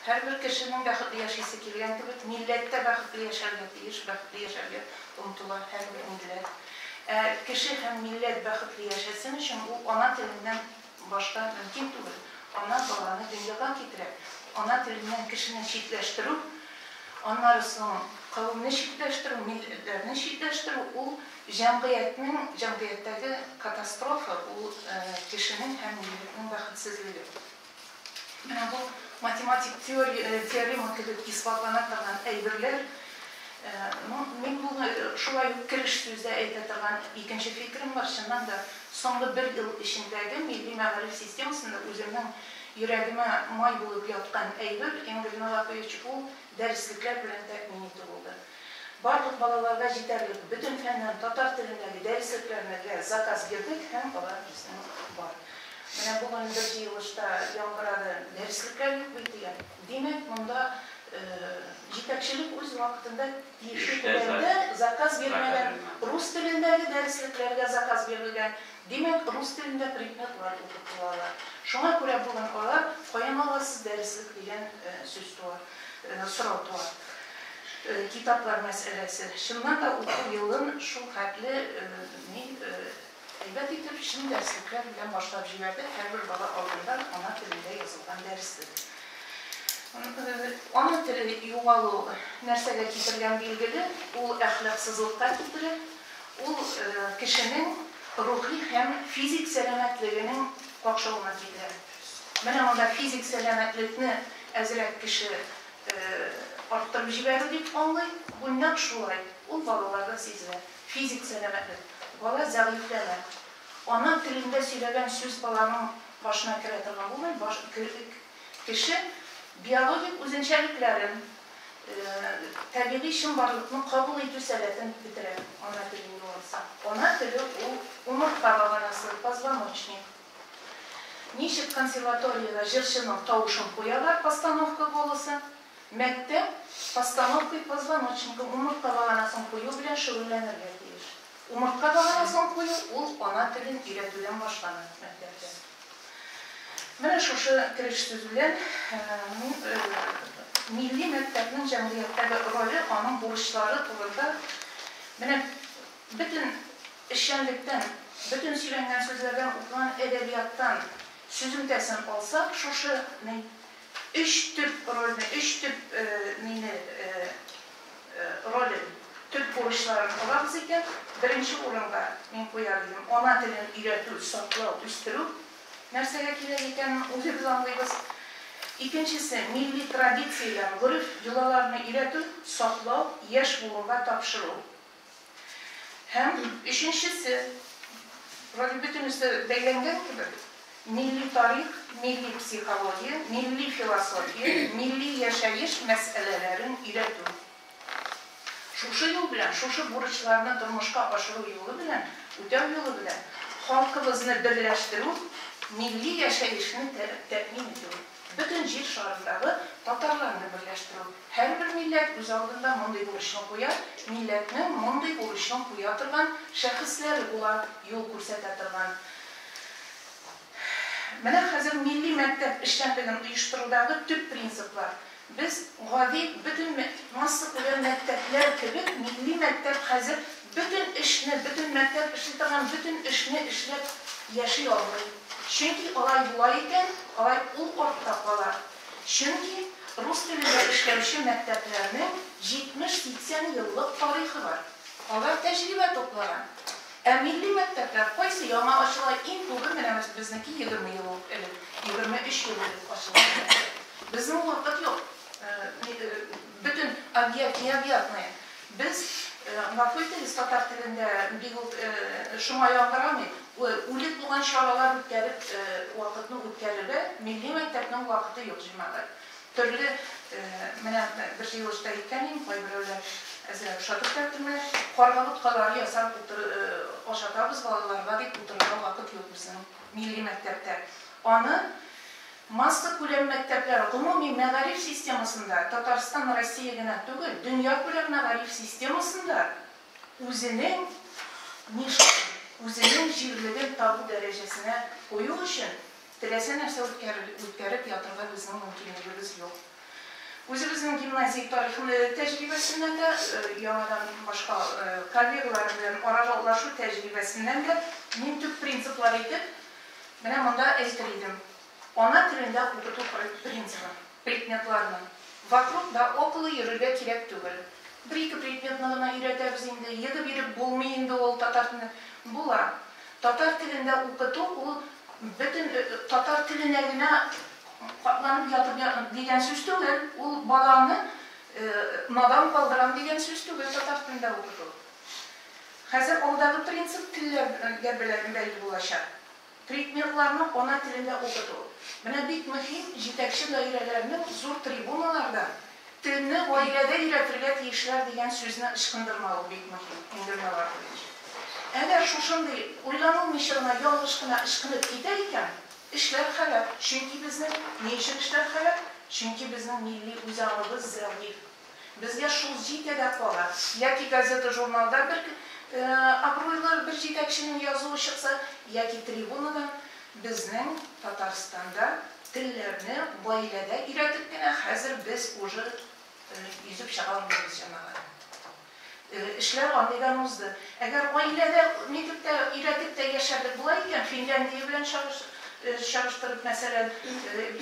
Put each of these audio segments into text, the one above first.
Һәрбер кешенең бәхетле яшисе килгән кебек, милләт тә бәхетле яшәргә тиеш, бәхетле яшәргә омтыла һәрбер милләт. Ә кеше һәм милләт бәхетле яшәсен өчен, ул ана теленнән башка мөмкин түгел. Ана баланы дөньяга китерә. Ана теленнән кешене читләштерү, аннары соң кавемне читләштерү, милләтләрне читләштерү, ул җәмгыятьнең, җәмгыятьтәге катастрофа, ул кешенең һәм милләтнең бәхетсезлеге. Менә бу математик теорема кебек исбатлана торган әйберләр, ну, мин моны шулай ук кереш сүздә әйтә торган икенче фикерем бар, чыннан да, соңгы бер ел эчендәге милли мәгариф системасында үземнең йөрәгемә май булып яткан әйбер, Энгель Мелакович, ул дәреслекләр белән тәэмин итү булды. Барлык балаларга җитәрлек бөтен фәннән татар телендәге дәреслекләрнеге заказ бирдек һәм алар безнең бар. Менә бүген бер җыелышта яңгырады, дәреслекләр юк бит дигән. Димәк, монда җитәкчелек үз вакытында тиешле күләмдә заказ бирмәгән. Рус телендәге дәреслекләргә заказ бирелгән, димәк, рус телендә предметлар укытылалар. Шуңа күрә бүген алар, каян аласыз дәреслек дигән сүз туа. сорау туа. Китаплар мәсьәләсе. Чыннан да уку елын шул хәтле ни әйбәт итеп, чын дәреслекләр белән башлап җибәрдек, һәрбер бала алдында ана телендә язылган дәрес беде. Ана теле югалу нәрсәгә китергән билгеле, ул әхлаксызлыкка китерә, ул кешенең рухи һәм физик сәламәтлегенең какшавына китерә. Менә анда физик сәламәтлекне әзрәк кеше арттырып җибәрү дип аңлый. Бу нәкъ шулай, ул балаларда сизелә. Физик сәламәтлек, бала зәгыйфьләнә. Ана телендә сөйләгән сүз баланың башына керә торган булмый, баш кеше биологик үзенчәлекләрен, табигый чынбарлыкны кабул итү сәләтен бетерә, ана телен югалтса. Ана теле ул умыртка баганасы, позвоночник. Ничек консерваториядә җырчының тавышын куялар постановка голосы, мәктәп постановкой позвоночника, умыртка баганасын кую белән шөгыльләнергә тиеш. Умыртка баганасын кую ул ана телен өйрәтүдән башлана мәктәптә. Менә шушы кереш төзүдән милли мәктәпнең җәмгыятьтәге роле, аның бурычлары турында менә Бөтен эшчәнлектән, бөтен сөйләнгән сүзләрдән, укыган әдәбияттан сөземтәсен алсак, шушы ни өч төп рольне, өч төп нине, ролен, төп бурычларын алабыз икән, беренче урынга мин куяр идем, ана телен өйрәтү, саклау, үстерү нәрсәгә кирәк икәнен үзебез аңлыйбыз. Икенчесе, милли традицияләр, гореф, йолаларны өйрәтү, саклау, яшь буынга тапшыру. Һәм өченчесе, вроде бөтенесе бәйләнгән кебек, милли тарих, милли психология, милли философия, милли яшәеш мәсьәләләрен өйрәтү. Шушы юл белән, шушы бурычларны тормышка ашыру юлы белән, үтәү юлы белән халкыбызны берләштерү, милли яшәешне тәэмин итү. Бөтен җир шарындагы татарларны берләштерү. Һәрбер милләт үз алдында мондый бурычны куя, милләтнең мондый бурычын куя торган шәхесләре була, юл күрсәтә торган. Менә хәзер милли мәктәп эшчәнлеген оештырудагы төп принциплар. Без, гади, бөтен массакүләм мәктәпләр кебек, милли мәктәп хәзер бөтен эшне, бөтен мәктәп эшли торган бөтен эшне эшләп яши алмый. Чөнки алай була икән, алай ул артта кала. Чөнки рус телендә эшләүче мәктәпләрнең 70-80 еллык тарихы бар. Алар тәҗрибә туплаган. Ә милли мәктәпләр кайсы яңа ачыла иң күбе менә без безнеке егерме ел ук элек егерме өч ел элек ачылган мәктәп безнең вакыт юк бөтен объект необъятные без гафу итегез татар телендә бик үк шома яңгырамый үлек булган чаралар үткәреп вакытны үткәрергә милли мәктәпнең вакыты юк җәмәгать Төрле, менә бер җыелышта әйткән идем, кайберәүләр әзрәк ошатып та килмә, карга боткалары ясап ашатабыз балаларга дип утырырга вакыт юк безнең милли мәктәптә. Аны массакүләм мәктәпләр гомуми мәгариф системасында, Татарстан, Россия генә түгел, дөньякүләм мәгариф системасында үзенең нишасын, үзенең җирлеген табу дәрәҗәсенә кую өчен Теләсә нәрсә үткәреп ятырга безнең мөмкинлегебез юк. Үзебезнең гимназия тарихында да, тәҗрибәсеннән дә, яңадан башка коллегалар белән аралашу тәҗрибәсеннән дә мин төп принциплар итеп менә монда әйтер идем. Ана телендә укыту принцибы, предметларны вокруг да около йөрергә кирәк түгел. Бер-ике предметны гына өйрәтәбез инде, егы биреп булмый инде ул татар телендә. Була. Татар телендә укыту ул бөтен татар теленә генә капланып ятып дигән сүз түгел, ул баланы надан калдырам дигән сүз түгел татар телендә укыту. Хәзер алдагы принцип телләргә белән бәйле булачак. Предметларны ана телендә укыту. Менә бик мөһим җитәкче даирәләрнең зур трибуналардан, Телне гаиләдә өйрәтергә тиешләр дигән сүзне ычкындырмавы бик мөһим, инде миңа килгәнчә. Әгәр шушындый уйланылмыйча гына ялгыш кына ычкынып китә икән, эшләр харап, чөнки безнең Ни өчен эшләр харап? Чөнки безнең милли үзаңыбыз зәгыйфь. Безгә шул җитә дә кала. Яки газета-журналда бер абруйлы бер җитәкченең язуы чыкса, яки трибунадан Безнең Татарстанда телләрне гаиләдә өйрәтеп кенә хәзер без уже йөзеп чыга алмыйбыз, җәмәгать. Эшләр анниган узды. Әгәр гаиләдә нитеп тә, өйрәтеп тә яшәдек була икән, Финляндия белән чагыштырып, мәсәлән,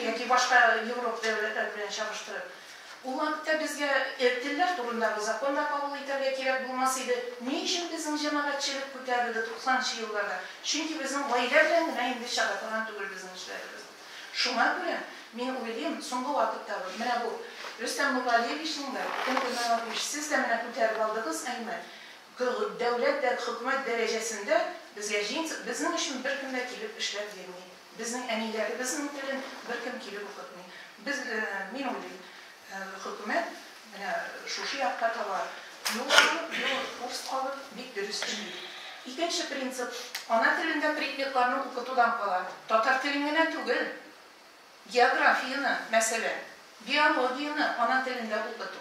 яки башка Европа дәүләтләре белән чагыштырып, Ул вакытта безгә телләр турындагы закон да кабул итәргә кирәк булмас иде. Ни өчен безнең җәмәгатьчелек күтәрелде туксанынчы елларда? Чөнки безнең гаилә белән генә инде чыга торган түгел безнең эшләребез. Шуңа күрә, мин уйлыйм, соңгы вакытта бу, менә бу Рөстәм Нургалиевичның да, Тын Гөлнар Ратмыш, сез дә менә күтәреп алдыгыз, әйме, дәүләт дә, хөкүмәт дәрәҗәсендә безгә җиң, безнең өчен беркем дә килеп эшләп йөрми. Безнең әниләребезнең телен беркем килеп укытмый. Без, мин уйлыйм, хөкүмәт менә шушы якка таба юл алып, юл, курс алып, бик дөрес эшли. Икенче принцип, ана телендә предметларны укытудан кала, татар телен генә түгел, географияне, мәсәлән, биологияне ана телендә укыту.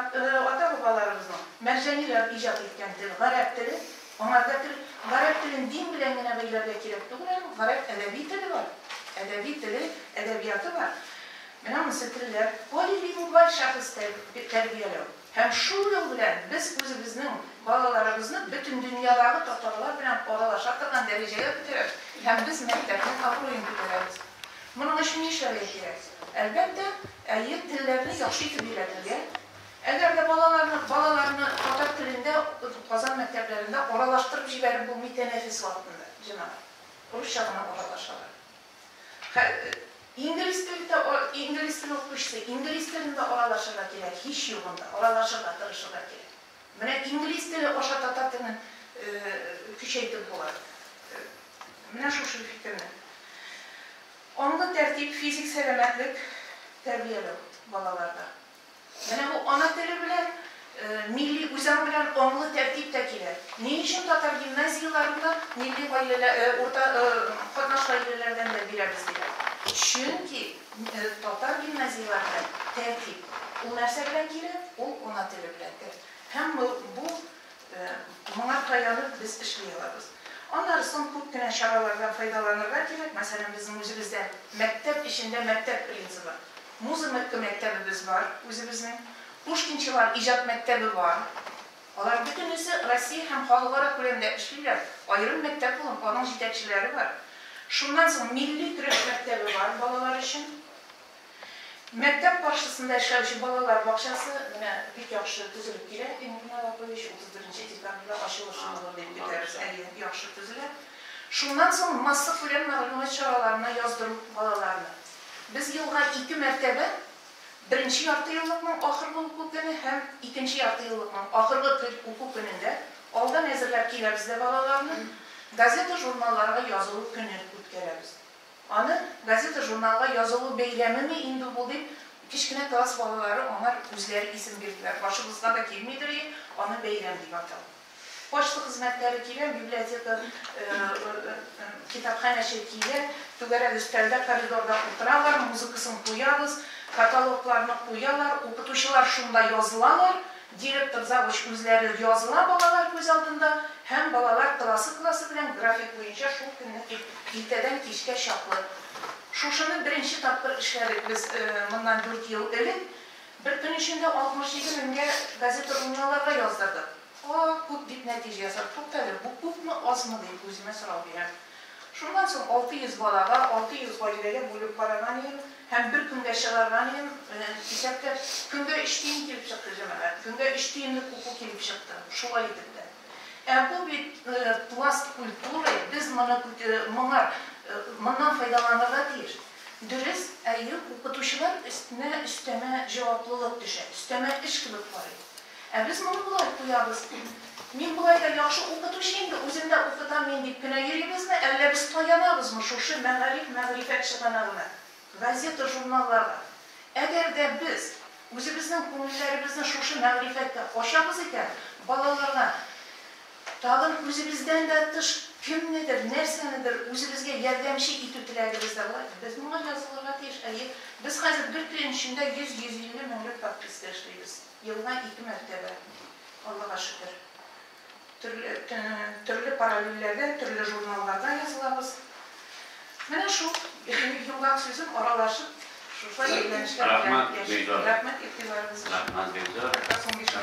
Ата-бабаларыбызның мәрҗаниләр иҗат иткән тел, гарәп теле. Аңарда тел, гарәп телен дин белән генә бәйләргә кирәк түгел аның. Гарәп әдәби теле бар. Әдәби теле, әдәбияты бар. Менә анысы телләр. Полилингваль шәхес тәрбияләү. Һәм шул юл белән без үзебезнең балаларыбызны бөтен дөньядагы татарлар белән аралаша торган дәрәҗәгә күтәрәбез һәм без мәктәпнең абруен күтәрәбез. Моның өчен нишләргә кирәк? Әлбәттә, Әйе, телләрне яхшы итеп өйрәнергә. Әгәр дә балаларны балаларны татар телендә укытып, Казан мәктәпләрендә аралаштырып җибәреп булмый, тәнәфес вакытында, җәмәгать, русча гына аралашалар. Хә инглиз телдә инглиз теле укучысы инглиз телендә аралашырга кирәк, һич югында, аралашырга тырышырга кирәк. Менә инглиз теле аша татар телен көчәйтеп була. Менә шушы фикерне. Аңлы тәртип, физик сәламәтлек тәрбияләү балаларда. Менә бу ана теле белән, милли үзаң белән аңлы тәртип тә килә. Ни өчен татар гимназияләрендә милли гаиләлә, урта катнаш гаиләләрдән дә бирәбез диләр? Чөнки татар гимназияләрендә тәртип, ул нәрсә белән килә? Ул ана теле белән тәртип. Һәм бу Моңа таянып без эшли алабыз. Аннары соң күп кенә чаралардан файдаланырга кирәк. Мәсәлән, безнең үзебездә мәктәп эчендә мәктәп принцибы. Музымыкка мәктәбебез бар үзебезнең. Пушкинчылар иҗат мәктәбе бар. Алар бөтенесе Россия һәм халыкара күләмдә эшлиләр. Аерым мәктәп булып, аның җитәкчеләре бар. Шуннан соң милли көрәш мәктәбе бар балалар өчен. Мәктәп каршысында эшләүче балалар бакчасы менә бик яхшы төзелеп килә. Тимур Нагапович, утыз беренче декабрьдә ачылыр чамалар дип көтәбез. Әйе, яхшы төзелә. Шуннан соң массакүләм мәгълүмат чараларына яздыру балаларны. Без елга ике мәртәбә, беренче яртыеллыкның ахыргы уку көне һәм икенче яртыеллыкның ахыргы көн уку көнендә алдан әзерләп киләбез дә балаларны газета-журналларга язылу көнен үткәрәбез. Аны газета-журналга язылу бәйрәмеме инде бу, дип, кечкенә класс балалары аңар үзләре исем бирделәр. Башыбызга да килмидер и, аны бәйрәм дип атау. Почта хезмәткәре килә, библиотека китапханәче килә, түгәрәк өстәлдә, коридорда утыралар, музыкасын куябыз, каталогларны куялар, укытучылар шунда язылалар, Директор завуч үзләре языла балалар күз алдында һәм балалар классы-классы белән график буенча шул көнне ир иртәдән кичкә чаклы. Шушыны беренче тапкыр эшләдек без моннан дүрт ел элек. Бер көн эчендә 67 меңгә газета-журналларга яздырдык. О, күп, дип нәтиҗә ясады. Туктале, бу күпме, азмы, дип үземә сорау бирәм. Шуннан соң 600 балага, 600 гаиләгә бүлеп караган идем һәм бер көнгә чыгарган идем. Менә исәпләп, көнгә өч тиен килеп чыкты, җәмәгать. Көнгә өч тиенлек уку килеп чыкты, шулай итеп тә. Ә бу бит пласт культуры, без моны моңа моннан файдаланырга тиеш. Дөрес, әйе, укытучылар өстенә өстәмә җаваплылык төшә, өстәмә эш кебек карыйм. Ә без моны болай куябыз, Мин болай да яхшы укытучы инде, үзем дә укытам мин дип кенә йөрибезме, әллә без таянабызмы шушы мәгариф-мәгърифәт чыганагына, газета-журналларга? Әгәр дә без үзебезнең күңелләребезне шушы мәгърифәткә ачабыз икән, балаларга тагын үзебездән дә тыш кемнедер, нәрсәнедер үзебезгә ярдәмче итү теләгебез дә була. Без моңа язылырга тиеш. Әйе, без хәзер бер көн эчендә 100-150 меңлек подписка эшлибез. Елга ике мәртәбә, Аллага шөкер. Төрле, төрле параллельләрдә, төрле журналларда язылабыз. Менә шул йомгак сүзен аралашып, шушы әйләнешләр белән яшибез. Рәхмәт игътибарыгыз өчен. Рәхмәт, бик зур.